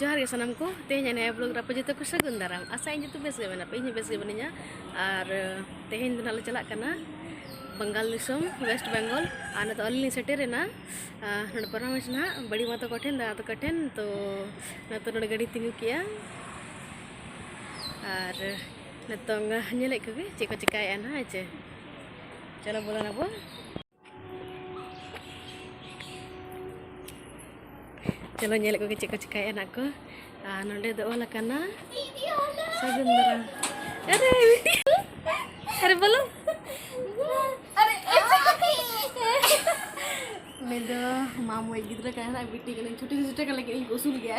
ᱡᱚᱦᱟᱨ ᱜᱮ ᱥᱟᱱᱟᱢ ᱠᱚ ᱛᱮᱦᱮᱧ ᱱᱤᱭᱟᱹ ᱵᱞᱚᱜ ᱨᱮ ᱡᱚᱛᱚ ᱠᱚ ᱥᱟᱹᱜᱩᱱ ᱫᱟᱨᱟᱢ ᱟᱥᱟ ᱤᱧ ᱡᱚᱛᱚ ᱵᱮᱥ ᱜᱮ ᱢᱮᱱᱟᱜ ᱯᱮ ᱤᱧ ᱵᱮᱥ ᱜᱮ ᱢᱤᱱᱟᱹᱧᱟ ᱟᱨ ᱛᱮᱦᱮᱧ ᱫᱚ ᱱᱟᱞᱮ ᱪᱟᱞᱟᱜ ᱠᱟᱱᱟ ᱵᱟᱝᱜᱟᱞ ᱫᱤᱥᱚᱢ ᱣᱮᱥᱴ ᱵᱮᱝᱜᱚᱞ ᱟᱨ ᱱᱤᱛᱚᱜ ᱟᱹᱞᱤᱧ ᱞᱤᱧ ᱥᱮᱴᱮᱨᱮᱱᱟ ᱱᱚᱰᱮ ᱯᱚᱨᱟᱢᱮᱥ ᱱᱟᱦᱟᱜ ᱵᱟᱹᱲᱤ ᱢᱟ ᱛᱟᱠᱚ ᱴᱷᱮᱱ ᱫᱟᱫᱟ ᱛᱟᱠᱚ ᱴᱷᱮᱱ ᱛᱚ ᱱᱤᱛᱚᱜ ᱱᱚᱰᱮ ᱜᱟᱹᱰᱤ ᱛᱤᱸᱜᱩ ᱠᱮᱜᱼᱟ ᱟᱨ ᱱᱤᱛᱚᱝ ᱧᱮᱞᱮᱫ ᱠᱚᱜᱮ ᱪᱮᱫ ᱠᱚ ᱪᱤᱠᱟᱹᱭᱮᱫᱼᱟ ᱱᱟᱦᱟᱜ ᱦᱮᱸ ᱪᱮ ᱪᱚᱞᱚ ᱵᱚᱞᱚᱱᱟᱵᱚᱱ ᱪᱚᱞᱚ ᱧᱮᱞᱮᱫ ᱠᱚᱜᱮ ᱪᱮᱫ ᱠᱚ ᱪᱤᱠᱟᱹᱭᱮᱫᱼᱟ ᱱᱟᱜ ᱠᱚ ᱟᱨ ᱱᱚᱰᱮ ᱫᱚ ᱚᱞ ᱟᱠᱟᱱᱟ ᱥᱟᱹᱜᱩᱱ ᱫᱟᱨᱟᱢ ᱟᱨᱮ ᱟᱨᱮ ᱵᱚᱞᱚ ᱩᱱᱤ ᱫᱚ ᱢᱟᱢᱚᱭ ᱜᱤᱫᱽᱨᱟᱹ ᱠᱟᱱᱟᱭ ᱱᱟᱜ ᱵᱤᱴᱤ ᱠᱟᱹᱱᱟᱹᱧ ᱪᱷᱩᱴᱤ ᱪᱷᱩᱴᱤ ᱠᱟᱱ ᱞᱟᱹᱜᱤᱫ ᱤᱧ ᱠᱚ ᱩᱥᱩᱞ ᱜᱮᱭᱟ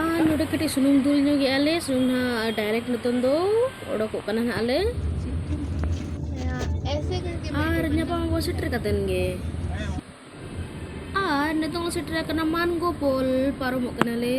ᱟᱨ ᱱᱚᱰᱮ ᱠᱟᱹᱴᱤᱡ ᱥᱩᱱᱩᱢ ᱫᱩᱞ ᱧᱚᱜᱮᱜᱼᱟ ᱞᱮ ᱥᱩᱱᱩᱢ ᱱᱟᱦᱟᱜ ᱰᱟᱭᱨᱮᱠᱴ ᱱᱤᱛᱚᱝ ᱫᱚ ᱚᱰᱚᱠᱚᱜ ᱠᱟᱱᱟ ᱱᱟᱦᱟᱜ ᱞᱮ ᱟᱨ ᱧᱟᱯᱟᱢ ᱟᱵᱚ ᱥᱮᱴᱮᱨ ᱠᱟᱛᱮᱱ ᱜᱮ ᱟᱨ ᱱᱤᱛᱚᱝ ᱥᱮᱴᱮᱨ ᱟᱠᱟᱱᱟ ᱢᱟᱱᱜᱳ ᱯᱳᱞ ᱯᱟᱨᱚᱢᱚᱜ ᱠᱟᱱᱟᱞᱮ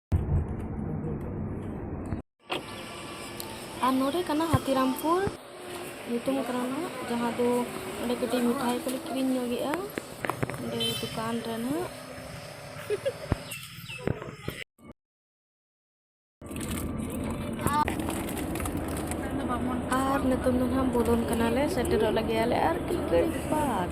ᱟᱨ ᱱᱚᱰᱮ ᱠᱟᱱᱟ ᱦᱟᱛᱤᱨᱟᱢᱯᱩᱨ ᱧᱩᱛᱩᱢ ᱠᱟᱱᱟ ᱱᱟᱦᱟᱜ ᱡᱟᱦᱟᱸ ᱫᱚ ᱚᱸᱰᱮ ᱠᱟᱹᱴᱤᱡ ᱢᱤᱴᱷᱟᱭ ᱠᱚᱞᱮ ᱠᱤᱨᱤᱧ ᱧᱚᱜᱮᱜᱼᱟ ᱚᱸᱰᱮ ᱫᱚᱠᱟᱱ ᱨᱮ ᱱᱟᱦᱟᱜ ᱟᱨ ᱱᱤᱛᱚᱝ ᱫᱚ ᱱᱟᱦᱟᱜ ᱵᱚᱞᱚᱱ ᱠᱟᱱᱟᱞᱮ ᱥᱮᱴᱮᱨᱚᱜ ᱞᱟᱹᱜᱤᱫ ᱟᱞᱮ ᱟᱨ ᱠᱤ ᱜᱷᱟᱹᱲᱤᱡ ᱵᱟᱫᱽ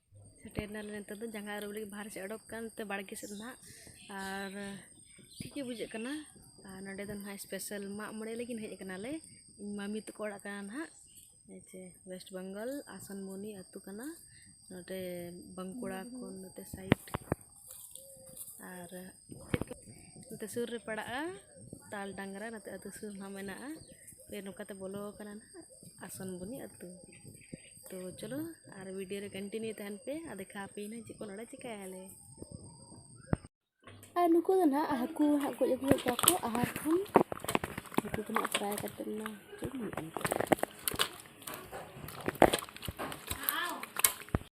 ᱥᱮᱴᱮᱨ ᱮᱱᱟᱞᱮ ᱱᱤᱛᱚᱜ ᱫᱚ ᱡᱟᱸᱜᱟ ᱟᱹᱨᱩᱵ ᱞᱟᱹᱜᱤᱫ ᱵᱟᱦᱨᱮ ᱥᱮᱫ ᱚᱰᱚᱠ ᱟᱠᱟᱱ ᱱᱚᱛᱮ ᱵᱟᱲᱜᱮ ᱥᱮᱫ ᱱᱟᱦᱟᱜ ᱟᱨ ᱴᱷᱤᱠ ᱜᱮ ᱵᱩᱡᱷᱟᱹᱜ ᱠᱟᱱᱟ ᱟᱨ ᱱᱚᱰᱮ ᱫᱚ ᱱᱟᱦᱟᱜ ᱥᱯᱮᱥᱟᱞ ᱢᱟᱜ ᱢᱚᱬᱮ ᱞᱟᱹᱜᱤᱫ ᱦᱮᱡ ᱠᱟᱱᱟᱞᱮ ᱤᱧ ᱢᱟᱢᱤ ᱛᱟᱠᱚ ᱚᱲᱟᱜ ᱠᱟᱱᱟ ᱱᱟᱦᱟᱜ ᱦᱮᱸᱪᱮ ᱳᱭᱮᱥᱴ ᱵᱮᱝᱜᱚᱞ ᱟᱥᱟᱱᱢᱩᱱᱤ ᱟᱹᱛᱩ ᱠᱟᱱᱟ ᱱᱚᱰᱮ ᱵᱟᱸᱠᱩᱲᱟ ᱠᱷᱚᱱ ᱱᱚᱛᱮ ᱥᱟᱭᱤᱰ ᱟᱨ ᱱᱚᱛᱮ ᱥᱩᱨ ᱨᱮ ᱯᱟᱲᱟᱜᱼᱟ ᱛᱟᱞ ᱰᱟᱝᱨᱟ ᱱᱚᱛᱮ ᱟᱛᱳ ᱥᱩᱨ ᱦᱚᱸ ᱢᱮᱱᱟᱜᱼᱟ ᱯᱷᱮᱨ ᱱᱚᱝᱠᱟ ᱛᱮ ᱵᱚᱞᱚ ᱠᱟᱱᱟ ᱱᱟᱜ ᱟᱥᱚᱱ ᱵᱚᱱᱤ ᱟᱛᱳ ᱛᱚ ᱪᱚᱞᱚ ᱟᱨ ᱵᱷᱤᱰᱤᱭᱳ ᱨᱮ ᱠᱚᱱᱴᱤᱱᱤᱭᱩ ᱛᱟᱦᱮᱱ ᱯᱮ ᱟᱨ ᱫᱮᱠᱷᱟᱣ ᱟᱯᱮᱭᱟᱹᱧ ᱪᱮᱫ ᱠᱚ ᱱᱚᱰᱮ ᱪᱤᱠᱟᱹᱭᱟᱞᱮ ᱟᱨ ᱱᱩᱠᱩ ᱫᱚ ᱱᱟᱜ ᱦᱟᱹᱠᱩ ᱦᱟᱸᱜ ᱜᱚᱡ ᱟᱹᱜᱩ ᱠᱟᱜ ᱠᱚ ᱟᱦᱟᱨ ᱠᱷᱚᱱ ᱱᱩᱠᱩ ᱫᱚ ᱱᱟᱜ ᱯᱷᱨᱟᱭ ᱠᱟᱛᱮ ᱱᱟ ᱪᱮᱫ ᱦᱩᱭᱩᱜᱼᱟ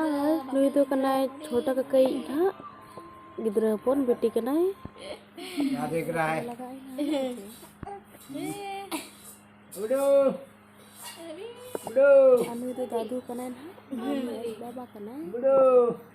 ᱟᱨ ᱱᱩᱭ ᱫᱚ ᱠᱟᱱᱟᱭ ᱪᱷᱳᱴᱟ ᱠᱟᱠᱟᱭ ᱦᱟᱸᱜ ᱜᱤᱫᱽᱨᱟᱹ ᱦᱚᱯᱚᱱ ᱵᱤᱴᱤ ᱠᱟᱱᱟᱭ ᱟᱨ ᱱᱩᱭ ᱫᱚ ᱫᱟᱫᱩ ᱠᱟᱱᱟᱭ ᱱᱟᱦᱟᱜ ᱵᱟᱵᱟ ᱠᱟᱱᱟᱭ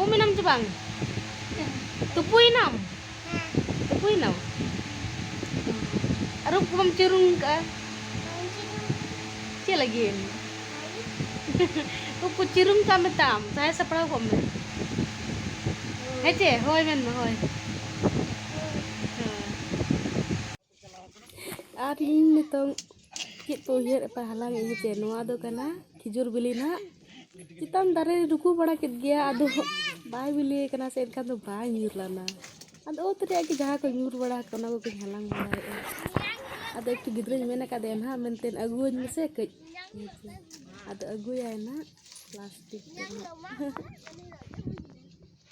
ᱩᱢ ᱮᱱᱟᱢ ᱥᱮ ᱵᱟᱝ ᱛᱩᱯᱩᱭᱮᱱᱟᱢ ᱛᱩᱯᱩᱭᱮᱱᱟᱢ ᱟᱹᱨᱩᱵ ᱠᱚ ᱵᱟᱢ ᱪᱩᱨᱩᱝ ᱠᱟᱜᱼᱟ ᱪᱮᱫ ᱞᱟᱹᱜᱤᱫ ᱮᱢ ᱩᱵ ᱠᱚ ᱪᱤᱨᱩᱝ ᱠᱟᱜ ᱢᱮ ᱛᱟᱢ ᱥᱟᱦᱟᱭ ᱥᱟᱯᱲᱟᱣ ᱠᱚᱜ ᱢᱮ ᱦᱮᱸ ᱪᱮ ᱦᱳᱭ ᱢᱮᱱ ᱢᱮ ᱦᱳᱭ ᱟᱨ ᱤᱧ ᱱᱤᱛᱚᱝ ᱪᱮᱫ ᱠᱚ ᱩᱭᱦᱟᱹᱨ ᱮᱫᱟ ᱦᱟᱞᱟᱝ ᱮᱫᱟ ᱡᱮ ᱱᱚᱣᱟ ᱫᱚ ᱠᱟᱱᱟ ᱠᱷᱤᱡᱩᱨ ᱵᱤᱞᱤ ᱦᱟᱸᱜ ᱪᱮᱛᱟᱱ ᱫᱟᱨᱮ ᱨᱮ ᱨᱩᱠᱩ ᱵᱟᱲᱟ ᱠᱮᱫ ᱜᱮᱭᱟ ᱟᱫᱚ ᱵᱟᱭ ᱵᱤᱞᱤ ᱟᱠᱟᱱᱟ ᱥᱮ ᱮᱱᱠᱷᱟᱱ ᱫᱚ ᱵᱟᱭ ᱧᱩᱨ ᱞᱮᱱᱟ ᱟᱫᱚ ᱚᱛ ᱨᱮᱭᱟᱜ ᱜᱮ ᱡᱟᱦᱟᱸ ᱠᱚ ᱧᱩᱨ ᱵᱟᱲᱟ ᱟᱠᱟᱱᱟ ᱚᱱᱟ ᱠᱚᱜᱮᱧ ᱦᱟᱞᱟᱝ ᱵᱟᱲᱟᱭᱮᱫᱼᱟ ᱟᱫᱚ ᱤᱧ ᱜᱤᱫᱽᱨᱟᱹᱧ ᱢᱮᱱ ᱟᱠᱟᱫᱮᱭᱟ ᱦᱟᱸᱜ ᱢᱮᱱᱛᱮ ᱟᱹᱜᱩᱣᱟᱹᱧ ᱢᱮᱥᱮ ᱠᱟᱹᱡ ᱟᱫᱚ ᱟᱹᱜᱩᱭᱟᱭ ᱦᱟᱸᱜ ᱯᱞᱟᱥᱴᱤᱠ ᱨᱮᱱᱟᱜ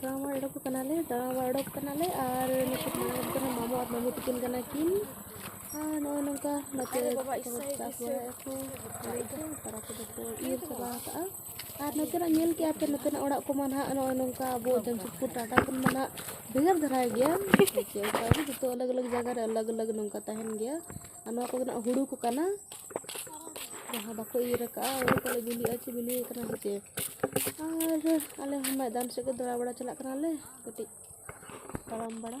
ᱫᱟᱬᱟ ᱢᱟ ᱚᱰᱚᱠ ᱠᱟᱱᱟᱞᱮ ᱫᱟᱬᱟ ᱢᱟ ᱚᱰᱚᱠ ᱠᱟᱱᱟᱞᱮ ᱟᱨ ᱱᱤᱛᱚᱜ ᱢᱟ ᱚᱰᱚᱠ ᱠᱟᱱᱟ ᱢᱟᱢᱚ ᱟᱨ ᱢᱟᱢᱚ ᱛᱤᱠᱤᱱ ᱠᱟᱱᱟ ᱠᱤᱱ ᱟᱨ ᱱᱚᱜᱼᱚᱭ ᱱᱚᱝᱠᱟ ᱱᱚᱛᱮ ᱵᱟᱵᱟ ᱤᱥᱟᱹᱭ ᱪᱟᱥ ᱵᱟᱲᱟᱭᱟᱠᱚ ᱛᱟᱨᱟ ᱠᱚᱫᱚ ᱠᱚ ᱤᱨ ᱪᱟᱵᱟ ᱟᱠᱟᱜᱼᱟ ᱟᱨ ᱱᱚᱛᱮᱱᱟᱜ ᱧᱮᱞ ᱠᱮᱜᱼᱟ ᱯᱮ ᱱᱚᱛᱮᱱᱟᱜ ᱚᱲᱟᱜ ᱠᱚᱢᱟ ᱱᱟᱦᱟᱜ ᱱᱚᱜᱼᱚᱭ ᱱᱚᱝᱠᱟ ᱟᱵᱚ ᱡᱟᱢᱥᱮᱫᱽᱯᱩᱨ ᱴᱟᱴᱟ ᱠᱷᱚᱱ ᱢᱟ ᱱᱟᱦᱟᱜ ᱵᱷᱮᱜᱟᱨ ᱫᱷᱟᱨᱟ ᱜᱮᱭᱟ ᱚᱱᱠᱟᱜᱮ ᱡᱚᱛᱚ ᱟᱞᱟᱜᱽ ᱟᱞᱟᱜᱽ ᱡᱟᱭᱜᱟ ᱨᱮ ᱟᱞᱟᱜᱽ ᱟᱞᱟᱜᱽ ᱱᱚᱝᱠᱟ ᱛᱟᱦᱮᱱ ᱜᱮᱭᱟ ᱟᱨ ᱱᱚᱣᱟ ᱠᱚᱫᱚ ᱱᱟᱜ ᱦᱩᱲᱩ ᱠᱚ ᱠᱟᱱᱟ ᱡᱟᱦᱟᱸ ᱵᱟᱠᱚ ᱤᱨ ᱟᱠᱟᱫᱼᱟ ᱦᱩᱲᱩ ᱠᱚᱞᱮ ᱵᱤᱞᱤᱜᱼᱟ ᱪᱮ ᱵᱤᱞᱤ ᱟᱠᱟᱱᱟ ᱥᱮ ᱪᱮᱫ ᱟᱨ ᱟᱞᱮ ᱦᱚᱸ ᱢᱚᱭᱫᱟᱱ ᱥᱮᱫ ᱜᱮ ᱫᱟᱬᱟ ᱵᱟᱲᱟ ᱪᱟᱞᱟᱜ ᱠᱟᱱᱟᱞᱮ ᱠᱟᱹᱴᱤᱡ ᱛᱟᱲᱟᱢ ᱵᱟᱲᱟ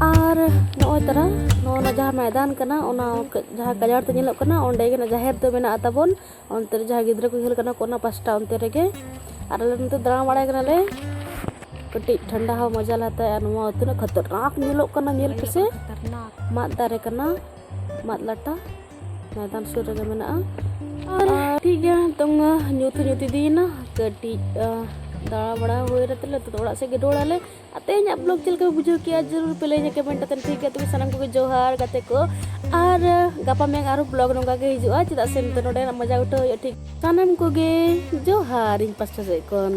ᱟᱨ ᱱᱚᱜᱼᱚᱭ ᱛᱟᱨᱟ ᱱᱚᱜᱼᱚ ᱱᱟ ᱡᱟᱦᱟᱸ ᱢᱚᱭᱫᱟᱱ ᱠᱟᱱᱟ ᱚᱱᱟ ᱡᱟᱦᱟᱸ ᱜᱟᱡᱟᱲ ᱛᱮ ᱧᱮᱞᱚᱜ ᱠᱟᱱᱟ ᱚᱸᱰᱮ ᱜᱮ ᱡᱟᱦᱮᱨ ᱫᱚ ᱢᱮᱱᱟᱜᱼᱟ ᱛᱟᱵᱚᱱ ᱚᱱᱛᱮ ᱨᱮ ᱡᱟᱦᱟᱸ ᱜᱤᱫᱽᱨᱟᱹ ᱠᱚ ᱠᱷᱮᱞ ᱠᱟᱱᱟ ᱠᱚ ᱚᱱᱟ ᱯᱟᱥᱴᱟ ᱚᱱᱛᱮ ᱨᱮᱜᱮ ᱟᱨ ᱟᱞᱮ ᱱᱚᱛᱮ ᱫᱟᱬᱟ ᱵᱟᱲᱟᱭ ᱠᱟᱱᱟᱞᱮ ᱠᱟᱹᱴᱤᱡ ᱴᱷᱟᱱᱰᱟ ᱦᱚᱸ ᱢᱚᱡᱟ ᱞᱮ ᱦᱟᱛᱟᱣᱟ ᱟᱨ ᱱᱚᱣᱟ ᱛᱤᱱᱟᱹᱜ ᱠᱷᱟᱛᱟᱨᱱᱟᱠ ᱧᱮᱞᱚᱜ ᱠᱟᱱᱟ ᱧᱮᱞ ᱯᱮᱥᱮ ᱢᱟᱫ ᱫᱟᱨᱮ ᱠᱟᱱᱟ ᱢᱟᱫ ᱞᱟᱴᱟ ᱢᱮᱫᱟᱱ ᱥᱩᱨ ᱨᱮᱜᱮ ᱢᱮᱱᱟᱜᱼᱟ ᱟᱨ ᱴᱷᱤᱠ ᱜᱮᱭᱟ ᱱᱤᱛᱚᱝ ᱧᱩᱛ ᱧᱩᱛ ᱤᱫᱤᱭᱮᱱᱟ ᱠᱟᱹᱴᱤᱡ ᱫᱟᱬᱟ ᱵᱟᱲᱟ ᱦᱩᱭ ᱠᱟᱛᱮ ᱞᱮ ᱱᱤᱛᱚᱜ ᱚᱲᱟᱜ ᱥᱮᱫ ᱜᱮ ᱨᱩᱣᱟᱹᱲ ᱟᱞᱮ ᱟᱨ ᱛᱮᱦᱮᱧᱟᱜ ᱵᱞᱚᱜ ᱪᱮᱫ ᱞᱮᱠᱟ ᱵᱩᱡᱷᱟᱹᱣ ᱠᱮᱜᱼᱟ ᱡᱟᱹᱨᱩᱲ ᱯᱮ ᱞᱟᱹᱭᱟ ᱠᱚᱢᱮᱱᱴ ᱟᱛᱮ ᱴᱷᱤᱠ ᱜᱮᱭᱟ ᱛᱚᱵᱮ ᱥᱟᱱᱟᱢ ᱠᱚᱜᱮ ᱡᱚᱦᱟᱨ ᱜᱟᱛᱮ ᱠᱚ ᱟᱨ ᱜᱟᱯᱟ ᱢᱮᱭᱟᱝ ᱟᱨᱦᱚᱸ ᱵᱞᱚᱜ ᱱᱚᱝᱠᱟ ᱜᱮ ᱦᱤᱡᱩᱜᱼᱟ ᱪᱮᱫᱟᱜ ᱥᱮ ᱱᱤᱛᱚᱜ ᱱᱚᱰᱮᱱᱟᱜ ᱢᱚᱡᱟ ᱩᱴᱷᱟᱹᱣ ᱦᱩᱭᱩᱜᱼᱟ ᱴᱷᱤᱠ ᱥᱟᱱᱟᱢ ᱠᱚᱜᱮ ᱡᱚᱦᱟᱨ ᱤᱧ ᱯᱟᱥᱴᱟ ᱥᱮᱫ ᱠᱷᱚᱱ